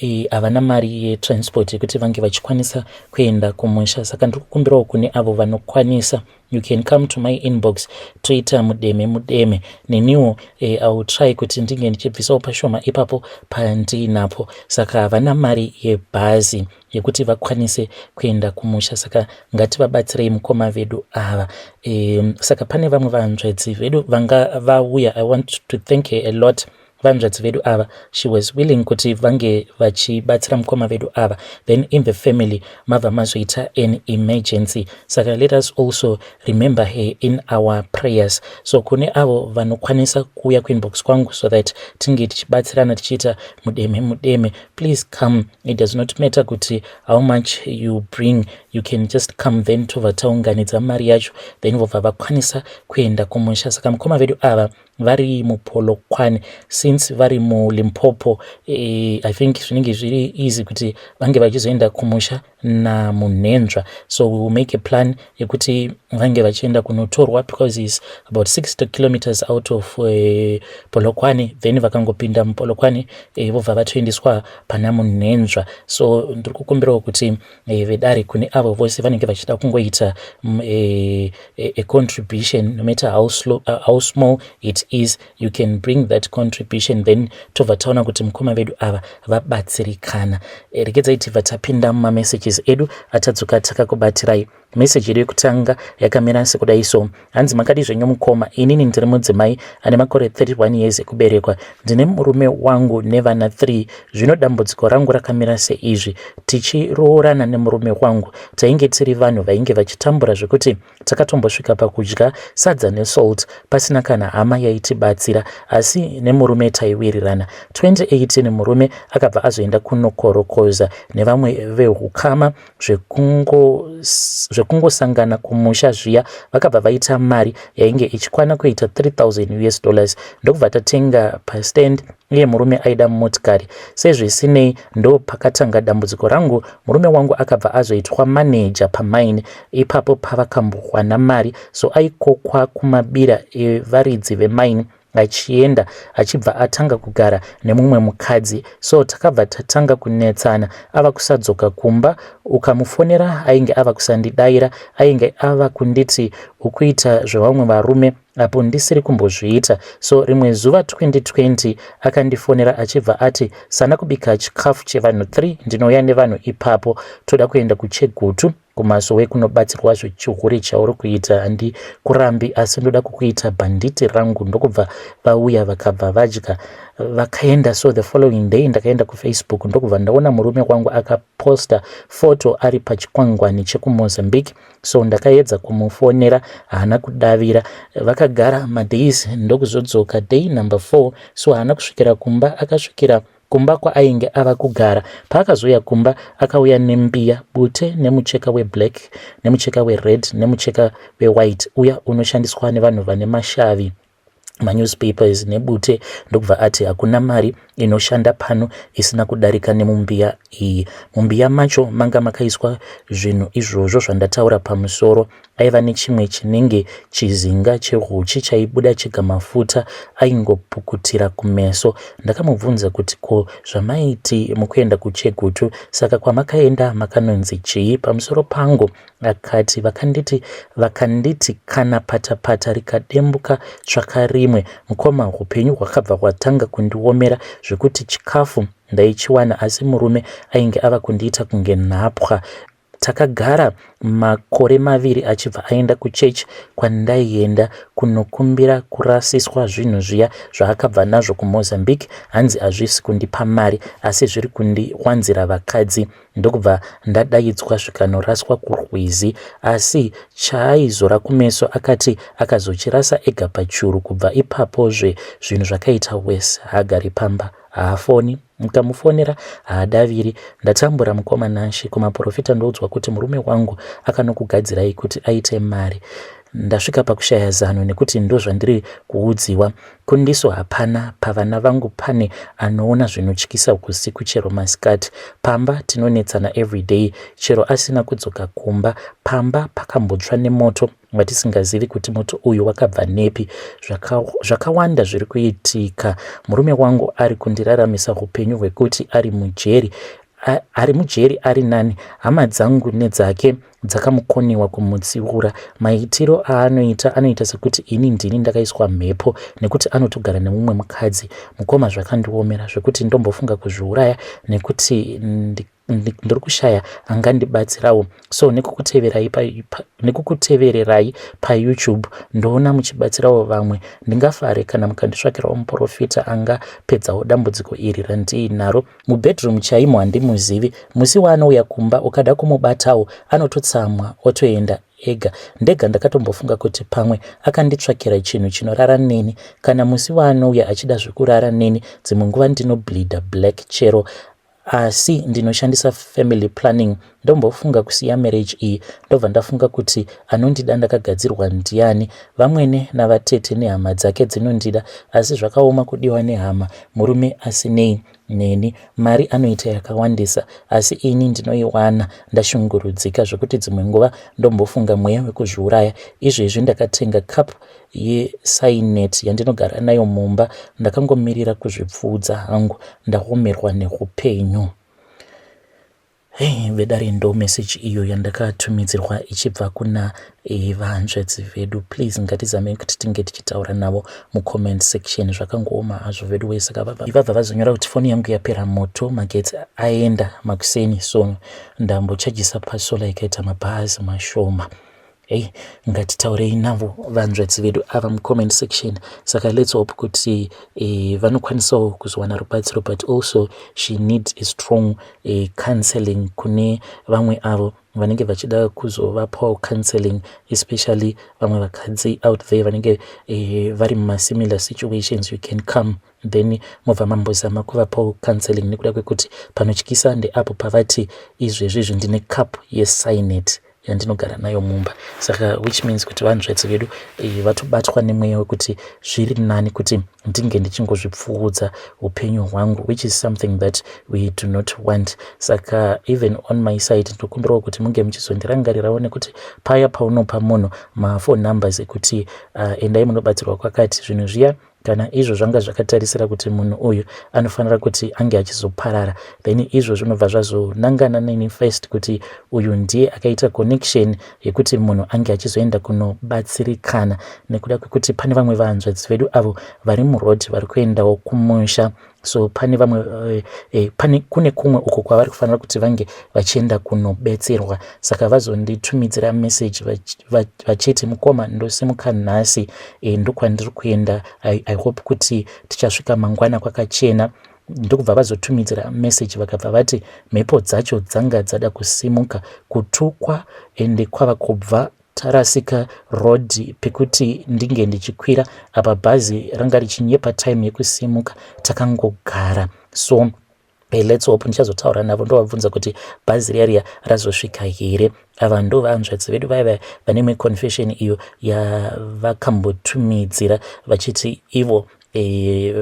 Eh, havana mari yetransport yekuti vange vachikwanisa kuenda kumusha saka ndiri kukumbirawo kune avo vanokwanisa you can come to my inbox toita mudeme mudeme neniwo eh, iwill try kuti ndinge ndichibvisawo pashoma ipapo pandiinapo saka havana mari yebhazi yekuti vakwanise kuenda kumusha saka ngativabatsirei mukoma vedu ava um, saka pane vamwe vanzvedzi vedu vanga vauya i want to thank her a lot vanzvadzi vedu ava she was willing kuti vange vachibatsira mukoma vedu ava then in the family mabva mazoita an emergency saka let us also remember her in our prayers so kune avo vanokwanisa kuuya kuinbox kwangu so that tinge tichibatsirana tichiita mudeme mudeme please come it does not matter kuti how much you bring you can just come then tobva taunganidza mari yacho then vobva vakwanisa kuenda kumusha saka mukoma vedu ava ah, vari mupolokwane since vari mulimpopo eh, i think zvinenge zviri easy kuti vange vachizoenda kumusha namunhenzva so we will make a plan yekuti vange vachienda kunotorwa because is about 60 kilometers out of uh, eh, polokwane then vakangopinda mupolokwane eh, vobva uh, vatoendeswa pana munhenzva so ndiri kukumbirawo kuti e, vedare kune avo vose vanenge vachida kungoita mm, e, e, a contribution no matter how, slow, uh, how small it is you can bring that contribution then tobva taona kuti mukoma vedu ava vabatsirikana e, regedzai tibva tapinda mumamessages edu atadzoka takakubatirai meseji yedu yekutanga yakamira sekudai so Hanzi makadi zvenyu mukoma, inini ndiri mudzimai ane makore 31 years ekuberekwa. Ndine murume wangu nevana 3. Zvino dambudziko rangu rakamira seizvi. Tichiroorana nemurume wangu, tainge tiri vanhu vainge vachitambura zvekuti takatombosvika pakudya sadza nesalt pasina kana hama yaitibatsira asi nemurume taiwirirana. 2018 murume akabva azoenda kunokorokoza nevamwe vehukama zvekungosangana kumusha zviya vakabva vaita mari yainge ichikwana kuita 3000 us dollars ndokubva tatenga pastand uye murume aida motikari sezvisinei ndo pakatanga dambudziko rangu murume wangu akabva azoitwa maneja pamaini ipapo pavakambokwana mari so aikokwa kumabira evaridzi vemaini achienda achibva atanga kugara nemumwe mukadzi so takabva tatanga kunetsana ava kusadzoka kumba ukamufonera ainge ava kusandidaira ainge ava kunditi ukuita zvevamwe varume apo ndisiri kumbozviita so rimwe zuva 2020 akandifonera achibva ati sana kubika chikafu chevanhu 3 ndinouya nevanhu ipapo toda kuenda kuchegutu kumasowe kunobatsirwa zvechihure chauri kuita handi kurambi asi ndoda kukuita bhanditi rangu ndokubva vauya vakabva vadya vakaenda so the following day ndakaenda kufacebook ndokubva ndaona murume wangu akaposta foto ari pachikwangwani chekumozambique so ndakaedza kumufonera haana kudavira vakagara madays ndokuzodzoka day number four so haana kusvikira kumba akasvikira kumba kwaainge ava kugara. Paakazouya kumba akauya nembiya, bute nemucheka weblack nemucheka wered nemucheka wewhite uya unoshandiswa nevanhu vane mashavi manewspapers nebute ndokubva ati hakuna mari inoshanda pano isina kudarika nemumbiya iyi mumbiya macho manga makaiswa zvinhu izvozvo zvandataura pamusoro aiva nechimwe chinenge chizinga chehuchi chaibuda chega mafuta aingopukutira kumeso. Ndakamubvunza kuti ko zvamaiti mukuenda kuChegutu saka kwamakaenda makanonzi chii pamusoro pangu? Akati vakanditi vakanditi kana patapata rikadembuka tsvaka rimwe. Mukoma hupenyu hwakabva hwatanga kundiomera zvekuti chikafu ndaichiwana asi murume ainge ava kundiita kunge nhapwa Takagara makore maviri achibva aenda kuchechi kwandaienda kunokumbira kurasiswa zvinhu zviya zvaakabva nazvo kumozambique hanzi hazvisi kundipa mari asi zviri kundiwanzira vakadzi ndokubva ndadaidzwa zvikanoraswa kurwizi asi chaaizora kumeso akati akazochirasa ega pachuru kubva ipapozve zvinhu zvakaita wese haagari pamba haafoni mukamufonera haadaviri ndatambura mukoma nanshi kumaporofita ndoudzwa kuti murume wangu akanokugadzirai kuti aite mari ndasvika pakushaya zano nekuti ndozvandiri kuudziwa kundiso hapana pavana vangu pane anoona zvinotyisa kusiku chero masikati pamba tinonetsana everyday chero asina kudzoka kumba pamba pakambotsva nemoto vatisingazivi kuti moto uyu wakabva nepi zvakawanda zviri kuitika murume wangu ari kundiraramisa upenyu hwekuti ari mujeri ari mujeri ari nani hama dzangu nedzake dzakamukoniwa kumutsiura maitiro aanoita anoita sekuti ini ndini ndakaiswa mhepo nekuti anotogara nemumwe mukadzi mukoma zvakandiomera zvekuti ndombofunga kuzviuraya nekuti ndiri kushaya angandibatsirawo so nekukuteverai nekukutevererai payoutube ndoona muchibatsirawo vamwe ndingafare kana mukanditsvakirawo muprofita angapedzawo dambudziko iri randiinaro mubedroom chaimo handimuzivi musi waanouya kumba ukada kumubatawo anototsamwa otoenda ega ndega ndakatombofunga kuti pamwe akanditsvakira chinhu chinorara neni kana musi waanouya achida zvekurara neni dzimwe nguva ndinobleeda black chero asi ndinoshandisa family planning ndombofunga kusiya marriage iyi ndobva ndafunga kuti anondida ndakagadzirwa ndiani vamwene navatete nehama dzake dzinondida asi zvakaoma kudiwa nehama murume asinei neni mari anoita yakawandisa asi ini ndinoiwana ndashungurudzika zvekuti dzimwe nguva ndombofunga mweya wekuzviuraya izvezvi ndakatenga cup yesainet yandinogara nayo mumba ndakangomirira kuzvipfuudza hangu ndaomerwa neupenyu hey, vedare ndo meseji iyo yandakatumidzirwa ichibva kuna eh, vahanzvadzi vedu please ngatizamei kuti tinge tichitaura navo mucomment section zvakangooma hazvo vedu wese saka vabva vazonyora kuti foni yangu yapera moto magetsi aenda makuseni so ndambochajisa pasola ikaita mabhazi mashoma Hey, ngatitaurei navo vanzvadzi vedu ava mucomment section saka let's hope kuti eh, vanokwanisawo kuzowana rubatsiro but also she needs a strong eh, counseling kune vamwe avo vanenge vachida kuzovapawo counseling especially vamwe vakadzi out there vanenge eh, vari mumasimilar situations you can come then mobva mambozama kuvapawo counseling nekuda kwekuti panotyisa ndeapo pavati izvezvi izvi ndine cup yesinate yandinogara nayo mumba saka which means kuti vanhu zvaitsi vedu eh, vatobatwa nemweya wekuti zviri nani kuti ndinge ndichingozvipfuudza upenyu hwangu which is something that we do not want saka even on my side ndokumbirawo kuti munge muchizondirangarirawo nekuti paya paunopa munhu maphone numbers ekuti uh, endai munobatsirwa kwakati zvinhu zviya kana izvo zvanga zvakatarisira kuti munhu uyu anofanira kuti ange achizoparara then izvo zvinobva zvazonangana neni first kuti uyu ndiye akaita connection yekuti munhu ange achizoenda kunobatsirikana nekuda kwekuti pane vamwe vahanzvadzi vedu avo vari muroad vari kuendawo kumusha so pane vamwe uh, eh, pane kune kumwe uko kwavari kufanira kuti vange vachienda kunobetserwa saka vazonditumidzira message vachiti mukoma ndosimuka nhasi eh, ndokwandiri kuenda I, i hope kuti tichasvika mangwana kwakachena ndokubva vazotumidzira message vakabva vati mhepo dzacho dzanga dzada kusimuka kutukwa ende kwava kubva Tarasika road pekuti ndinge ndichikwira apa bhazi ranga richinyepa time yekusimuka takangogara so Hey, eh, let's hope ndichazotaura navo ndovabvunza kuti bhazi riya riya razosvika here ava ndo vahanzvadzi vedu vaya vaya vane imwe confession iyo yavakambotumidzira vachiti ivo Eh,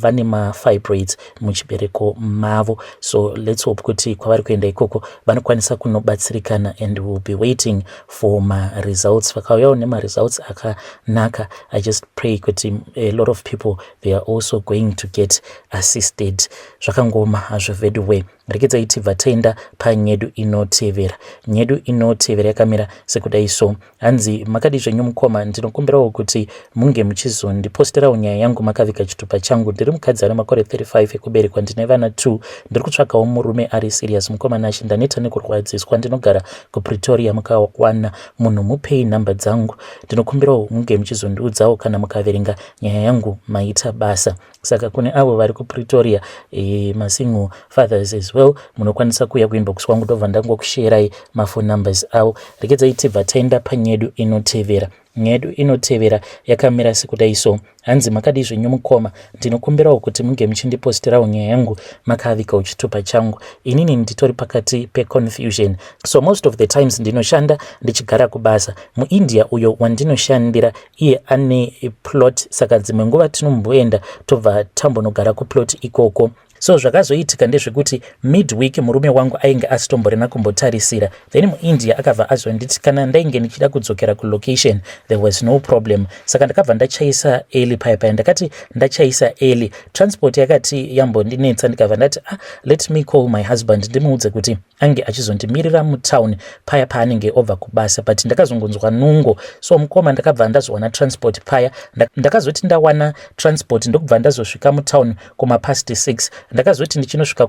vane mafibroids muchibereko mavo so lets hope kuti kwavari kuenda ikoko vanokwanisa kunobatsirikana and will be waiting for maresults vakauyawo nemaresults akanaka i just pray kuti a lot of people they are also going to get assisted zvakangoma hazvo veduway rekedzai tibva taenda panyedu inotevera nyedu inotevera yakamira sekudai so Hanzi makadii zvenyu mukoma, ndinokumbirawo kuti munge muchizondiposterawo nyaya yangu makaviga chitupa changu. Ndiri mukadzi ane makore 35 ekuberekwa, ndine vana 2. Ndiri kutsvagawo murume ari serious mukoma Nashe, ndaneta nekurwadziswa. Ndinogara kuPretoria, mukawana munhu mupei nhamba dzangu. Ndinokumbirawo munge muchizondiudzawo kana mukaverenga nyaya yangu maita basa. saka kune avo vari kupretoria e, eh, masingle fathers as well munokwanisa kuuya kuinbox kwangu ndobva ndangokusherai maphone numbers avo rekedzai tibva taenda panyedu inotevera nyedu inotevera yakamira sekudai so hanzi makadii zvenyu mukoma ndinokumbirawo kuti munge muchindipostirawo nyaya yangu makavika uchitupa changu inini nditori pakati peconfusion so most of the times ndinoshanda ndichigara kubasa muindia uyo wandinoshandira iye ane plot saka dzimwe nguva tinomboenda tobva tambonogara kuplot ikoko so zvakazoitika ndezvekuti midweek murume wangu ainge asitomborena kumbotarisira then muindia akabva azonditi kana ndainge ndichida kudzokera kulocation there was no problem saka ndakabva ndachaisa eli paya paya ndakati ndachaisa eli transport yakati yambondinetsa ndikabva ndati ah, let me call my husband ndimuudze kuti ange achizondimirira mutown paya paanenge obva kubasa but ndakazongonzwa nungo so mukoma ndakabva ndazowana transport paya ndakazoti ndawana transport ndokubva ndazosvika mutown kumapast 6 ndakazoti ndichinosvika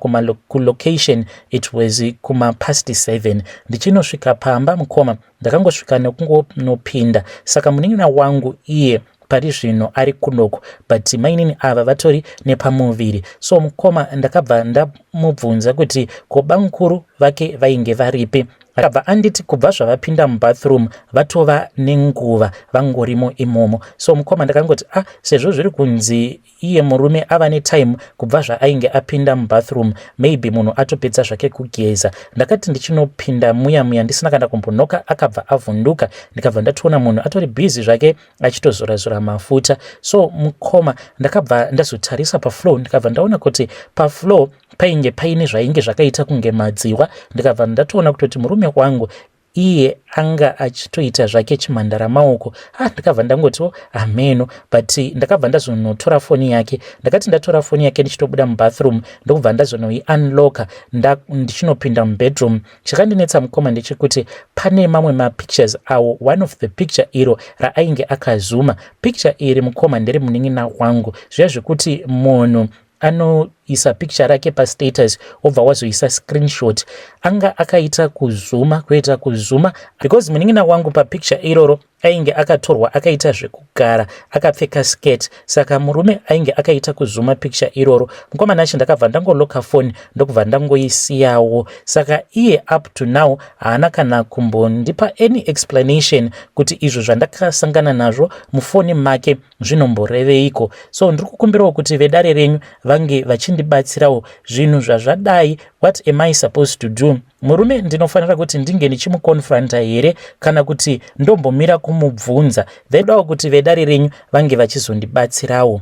kulocation it was kumapast 7 ndichinosvika pamba mukoma ndakangosvika nekungonopinda saka munin'ina wangu iye pari zvino ari kunoko but mainini ava vatori nepamuviri so mukoma ndakabva ndamubvunza kuti ko bamukuru vake vainge varipi akabva anditi kubva zvavapinda mubathroom vatova nenguva vangorimo imomo so mukoma ndakangoti a ah, sezvo zviri kunzi iye murume ava netime kubva zvaainge apinda mubathroom maybe munhu atopedza zvake kugeza ndakati ndichinopinda muya muya ndisina kana kumbonoka akabva avhunduka ndikabva ndatoona munhu atori busy zvake achitozorazora mafuta so mukoma ndakabva ndazotarisa paflow ndikabva ndaona kuti paflow painge paine zvainge zvakaita kunge madziwa ndikabva ndatoona kutoti murume wangu iye anga achitoita zvake chimhandara maoko ah ndakabva ndangotiwo hameno but ndakabva ndazonotora foni yake ndakati ndatora foni yake ndichitobuda mubathroom ndokubva ndazonoiunlocka ndichinopinda mubedroom chakandinetsa mukoma ndechekuti pane mamwe mapictures awo one of the picture iro raainge akazuma picture iri mukoma ndiri munin'ina wangu zviya zvekuti munhu anoisa picture rake pastatus wobva wazoisa screenshot anga akaita kuzuma kuita kuzuma because munin'ina wangu papicture iroro ainge akatorwa akaita zvekugara akapfeka skirt saka murume ainge akaita kuzuma picture iroro mukomana acho ndakabva ndangoloka foni ndokubva ndangoisiyawo saka iye up to now haana kana kumbondipa any explanation kuti izvo zvandakasangana nazvo mufoni make zvinomboreveiko so ndiri kukumbirawo kuti vedare renyu vange vachindibatsirawo zvinhu zvazvadai what am i supposed to do murume ndinofanira kuti ndinge ndichimukonfronta here kana kuti ndombomira kumubvunza ndaidawo kuti vedare renyu vange vachizondibatsirawo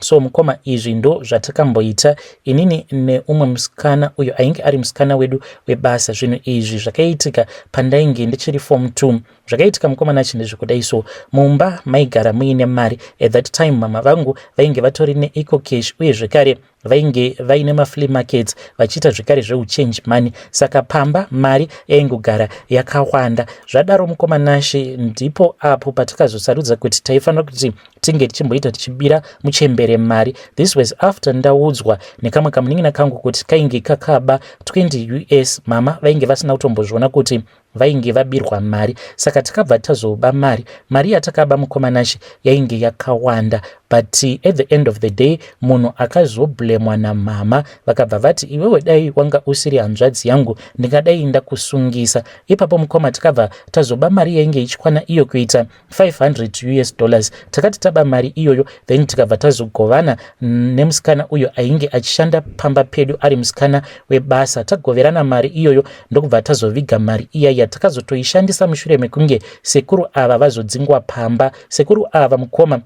so mukoma izvi ndo zvatakamboita inini neumwe musikana uyo ainge ari musikana wedu webasa zvinhu izvi zvakaitika pandainge ndichiri form t zvakaitika mukoma nachi ndezvekudai so mumba maigara muine mari at that time mama vangu vainge vatori neeco cash uye zvekare vainge vaine maflea markets vachiita zvekare zveuchange money saka pamba mari yaingogara yakawanda zvadaro mukoma nashe ndipo apo patakazosarudza kuti taifanira kuti tinge tichimboita tichibira muchembere mari this was after ndaudzwa nekamwe kamunin'ina kangu kuti kainge kakaba 20 us mama vainge vasina kutombozviona kuti vainge vabirwa mari saka takabva tazoba mari mari yatakaba mukomanashe yainge yakawanda but at the end of the day munhu akazoblemwa namhama vakabva vati iwewe dai wanga usiri hanzvadzi yangu ndingadai ndakusungisa ipapo mukoma tikabva tazoba mari yainge ichikwana iyo kuita 500 us dollars takati taba mari iyoyo then tikabva tazogovana nemusikana uyo ainge achishanda pamba pedu ari musikana webasa tagoverana mari iyoyo ndokubva tazoviga mari iya yatakazotoishandisa mushure mekunge sekuru ava vazodzingwa pamba sekuru ava mukoma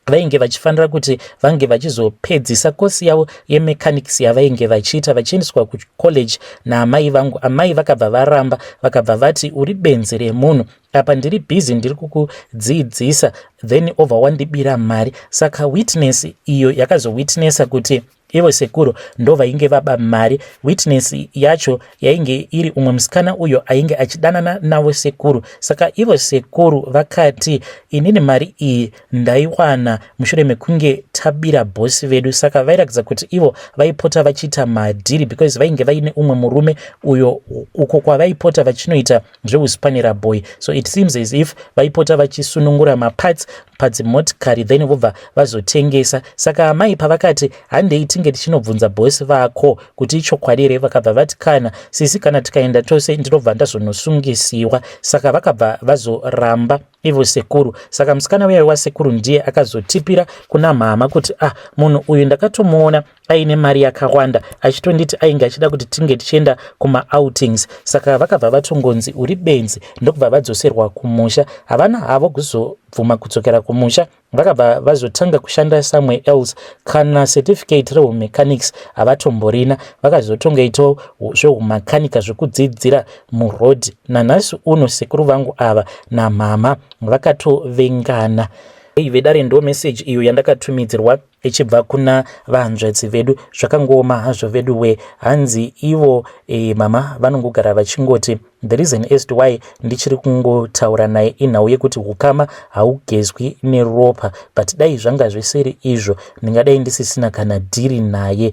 vainge vachifanira kuti vange vachizopedzisa kosi yavo yemechanics yavainge vachiita vachiendeswa kucollege naamai vangu amai vakabva varamba vakabva vati uri benzi remunhu apa ndiri busy ndiri kukudziidzisa then over wandibira mari saka witness iyo yakazowitnessa kuti Ivo sekuru ndovainge vaba mari. Witness yacho yainge iri umwe musikana uyo ainge achidanana navo sekuru. Saka ivo sekuru vakati inini mari iyi ndaiwana mushure mekunge tabira bosi vedu. Saka vairakidza kuti ivo vaipota vachiita madhiri because vainge vaine umwe murume uyo uko kwavaipota vachinoita zvehuspanera boy so it seems as if vaipota vachisunungura maparts padzimotikari then vobva vazotengesa saka amai pavakati handei tinge tichinobvunza bosi vako kuti ichokwadi here vakabva vati kana sisi kana tikaenda tose ndinobva ndazonosungisiwa saka vakabva vazoramba ivo sekuru saka musikana uya wasekuru ndiye akazotipira kuna mhama kuti ah munhu uyu ndakatomuona aine mari yakawanda achitonditi ainge achida kuti tinge tichienda kumaoutings saka vakabva vatongonzi uri benzi ndokubva vadzoserwa kumusha havana havo kuzobvuma kudzokera kumusha vakabva vazotanga kushanda somewhere else kana certificate rehumechanics havatomborina vakazotongaitawo zvehumakanika zvekudzidzira muroad nanhasi uno sekuru vangu ava namhama vakatovengana hey vedare ndo message iyo yandakatumidzirwa ichibva kuna vahanzvadzi vedu zvakangooma hazvo vedu we hanzi ivo e, mama vanongogara vachingoti the reason as to why ndichiri kungotaura naye inhau yekuti ukama haugezwi neropa but dai zvanga zvisiri izvo ndingadai ndisisina kana dhiri naye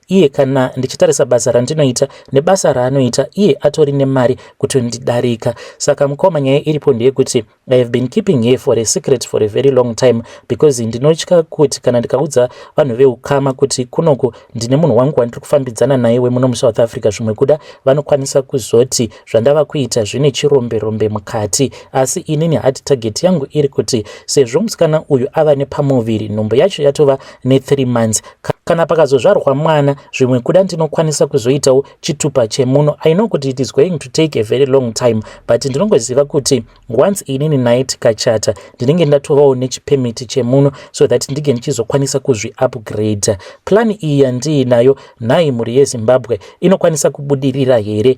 iye kana ndichitarisa basa randinoita nebasa raanoita iye atori nemari kutondidarika saka mukoma nyaya iripo ndeyekuti i have been keeping her for a secret for a very long time because ndinotya kuti kana ndikaudza vanhu veukama kuti kunoku ndine munhu wangu wandiri kufambidzana naye wemuno musouth africa zvimwe kuda vanokwanisa kuzoti zvandava kuita zvine chirombe rombe mukati asi inini hard target yangu iri kuti sezvo musikana uyu ava nepamuviri nhumbu yacho yatova ne3 months kana pakazozvarwa mwana zvimwe kuda ndinokwanisa kuzoitawo chitupa chemuno i know kuti it is going to take a very long time but ndinongoziva kuti once inini naye tikachata ndinenge ndatovawo nechipemiti chemuno so that ndinge ndichizokwanisa kuzviupgrade plani iyi yandiinayo nhai mhuri yezimbabwe inokwanisa kubudirira here